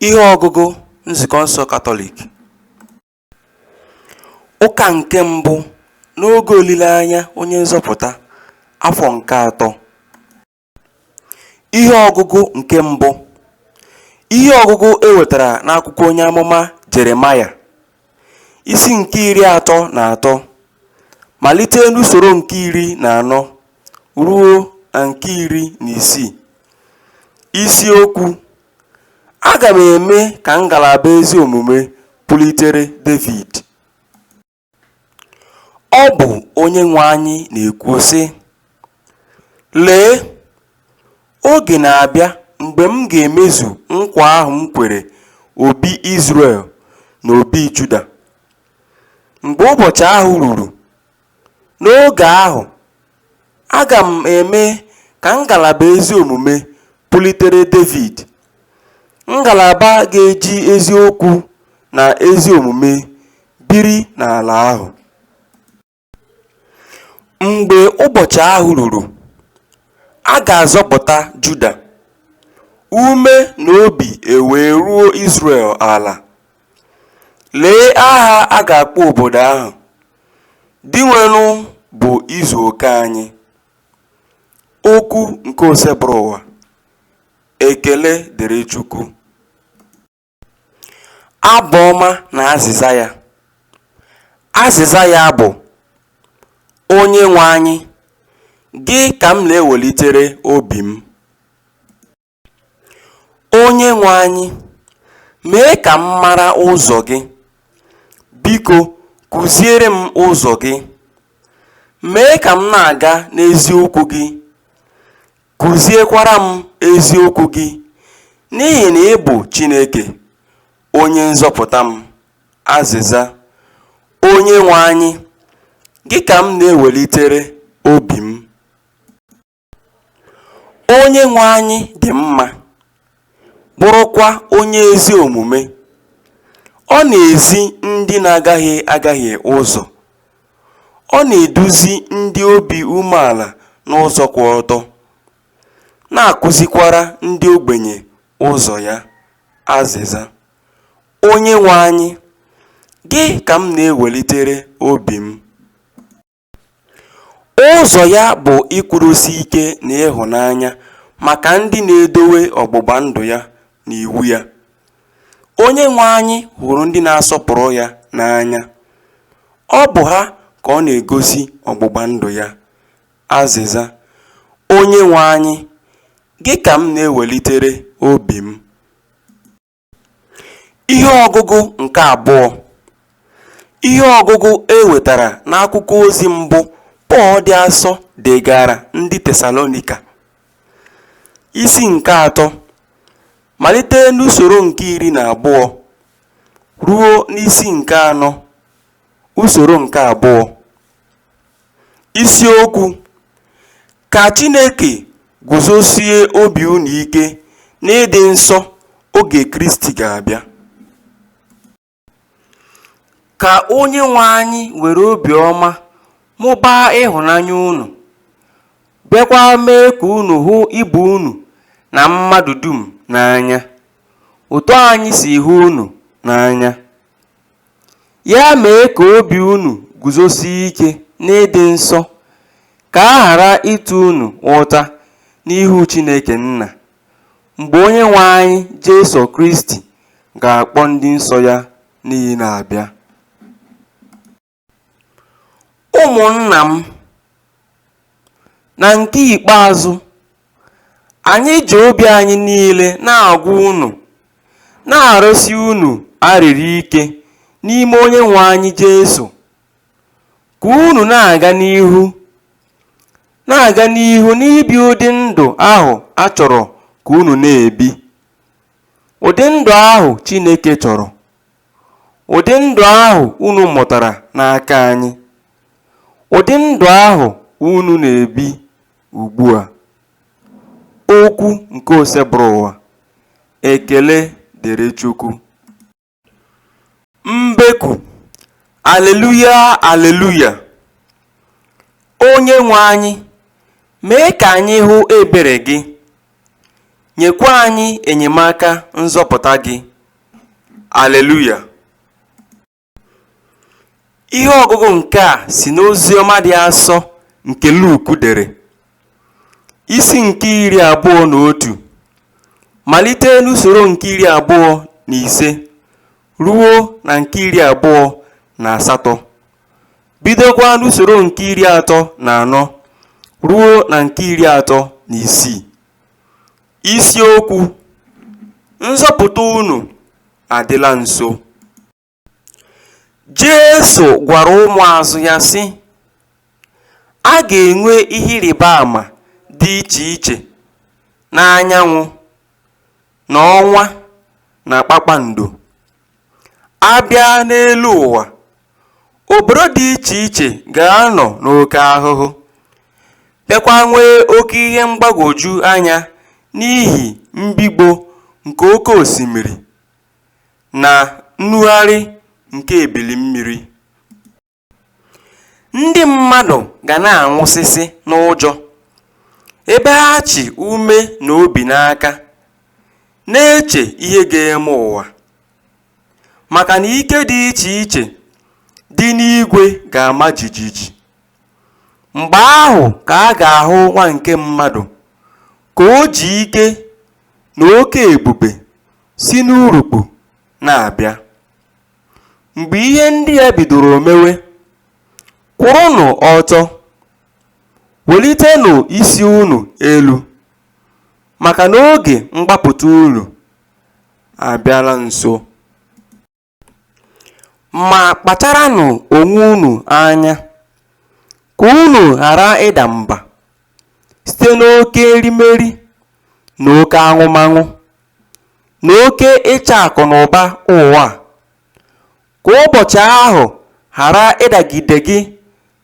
Ihe ọgụgụ Nzukọ nsọ Katọlik Ụka nke mbụ n'oge olileanya Onye Nzọpụta, afọ nke atọ. Ihe ọgụgụ nke mbụ Ihe ọgụgụ e wetara n'akwụkwọ onye amụma Jeremaya. Isi nke iri atọ na atọ, malite n'usoro nke iri na anọ ruo na nke iri na isii. Isiokwu Aga m eme ka ngalaba ezi omume pulitere Devid. Ọ bụ Onyenwe anyị na-ekwu sị, Lee! Oge na-abịa mgbe m ga-emezu nkwa ahụ m kwere obi Izrel na obi Juda. Mgbe ụbọchị ahụ ruru, n'oge ahụ, aga m eme ka ngalaba ezi omume pulitere Devid, ngalaba ga-eji eziokwu na ezi omume biri n'ala ahụ. Mgbe ụbọchị ahụ ruru, a ga-azọpụta Juda, ume na obi ewee ruo Izrel ala. Lee aha a ga-akpọ obodo ahụ, Dinwenụ bụ izu oke anyị. Okwu nke Osebụrụwa. Ekele dịrị Chukwu. Abụ ọma na azịza ya. Azịza ya bụ, Onyenwe anyị, gị ka m na-ewelitere obi m. Onyenwe anyị, mee ka m mara ụzọ gị. Biko, kụziere m ụzọ gị. Mee ka m na-aga n'eziokwu gị. Kụziekwara m eziokwu gị, n'ihi na ị bụ Chineke, Onye nzọpụta m. Azịza, Onyenwe anyị, gị ka m na-ewelitere obi m. Onyenwe anyị dị mma. bụrụkwa onye ezi omume, ọ na-ezi ndị na-agahie agahie ụzọ, ọ na-eduzi ndị obi umeala n'ụzọ kwụ ọtọ, na-akụzikwara ndị ogbenye ụzọ ya. Azịza. Onyenwe anyị, gị ka m na-ewelitere obi m. Ụzọ ya bụ ikwudosi ike na ịhụnanya maka ndị na-edowe ọgbụgba ndụ ya na iwu ya. Onyenwe anyị hụrụ ndị na-asọpụrụ ya n'anya, ọ bụ ha ka ọ na-egosi ọgbụgba ndụ ya. Azịza, Onyenwe anyị, gị ka m na-ewelitere obi m. Ihe ọgụgụ nke abụọ Ihe ọgụgụ e wetara n'akwụkwọ ozi mbụ Pọl dị asọ degaara ndị Tesalonika, isi nke atọ, malite n'usoro nke iri na abụọ ruo n'isi nke anọ, usoro nke abụọ. Isiokwu Ka Chineke guzosie obi unu ike n'ịdị nsọ oge Kristi ga-abịa. Ka onye nwe anyị were obiọma mụbaa ịhụnanya unu, bịakwa mee ka unu hụ ibe unu na mmadụ dum n'anya, otu anyị si hụ unu n'anya. Ya mee ka obi unu guzosie ike n'ịdị nsọ, ka a ghara ịta unu ụta n'ihu Chineke Nna, mgbe Onyenwe anyị Jesu Kristi ga-akpọ ndị nsọ ya niile abịa. Ụmụnna m, na nke ikpeazụ, Anyị ji obi anyị niile na-agwa unu, na-arịọsi unu arịrịọ ike n'ime onye nwe anyị Jesu, ka unu na-aga n'ihu na-aga n'ihu n'ibi ụdị ndụ ahụ a chọrọ ka unu na-ebi, ụdị ndụ ahụ Chineke chọrọ, ụdị ndụ ahụ unu mụtara n'aka anyị, ụdị ndụ ahụ unu na-ebi Ugbu a, okwu nke Osebụrụwa, Ekele dịrị Chukwu! Mbeku, Aleluya, aleluya! Onyenwe anyị, mee ka anyị hụ ebere gị, nyekwa anyị enyemaka nzọpụta gị. Aleluya! Ihe ọgụgụ nke a si n'Oziọma dị asọ nke Luk dere, isi nke iri abụọ na otu, malite n'usoro nke iri abụọ na ise ruo na nke iri abụọ na asatọ, bidokwa n'usoro nke iri atọ na anọ ruo na nke iri atọ na isii. Isiokwu, Nzọpụta unu adịla nso. Jesu gwara ụmụazụ ya sị, A ga-enwe ihe ịrịba ama dị iche iche n'anyanwụ na ọnwa na kpakpando. A bịa n'elu ụwa obodo dị iche iche ga-anọ n'oke ahụhụ bịakwa nwee oke ihe mgbagwoju anya n'ihi mbigbọ nke oke osimiri na nnugharị nke ebili mmiri Ndị mmadụ ga na-anwụsịsị n'ụjọ, ebe ha chị ume na obi n'aka, na-eche ihe ga-eme ụwa, maka na ike dị iche iche dị n'igwe ga-ama jijiji. Mgbe ahụ ka a ga-ahụ Nwa nke mmadụ ka o ji ike na oke ebube si n'urukpu na-abịa. Mgbe ihe ndị a bidoro mewe, kwụrụnụ ọtọ, welitenụ isi unu elu, maka na oge mgbapụta unu abịala nso. Ma kpacharanụ onwe unu anya, ka unu ghara ịda mba site n'oke erimeri na oke aṅụmaṅụ na oke ịchọ akụ na ụba ụwa a, ka ụbọchị ahụ ghara ịdagide gị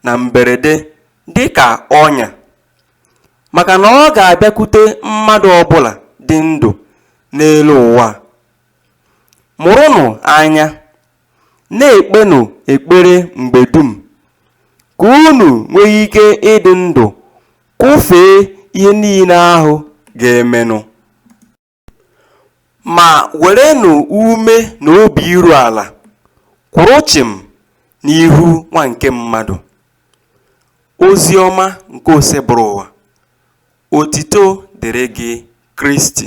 na mberede dị ka ọnya, maka na ọ ga-abịakwute mmadụ ọbụla dị ndụ n'elu ụwa. Mụrụnụ anya! Na-ekpenụ ekpere mgbe dum ka unu nwee ike ịdị ndụ kwụfee ihe niile ahụ ga-emenụ. Ma werenụ ume na obi iru ala kwụrụ chịm n'ihu Nwa nke mmadụ. Ozi ọma nke Osebụrụwa. Otito dịrị gị, Kristi.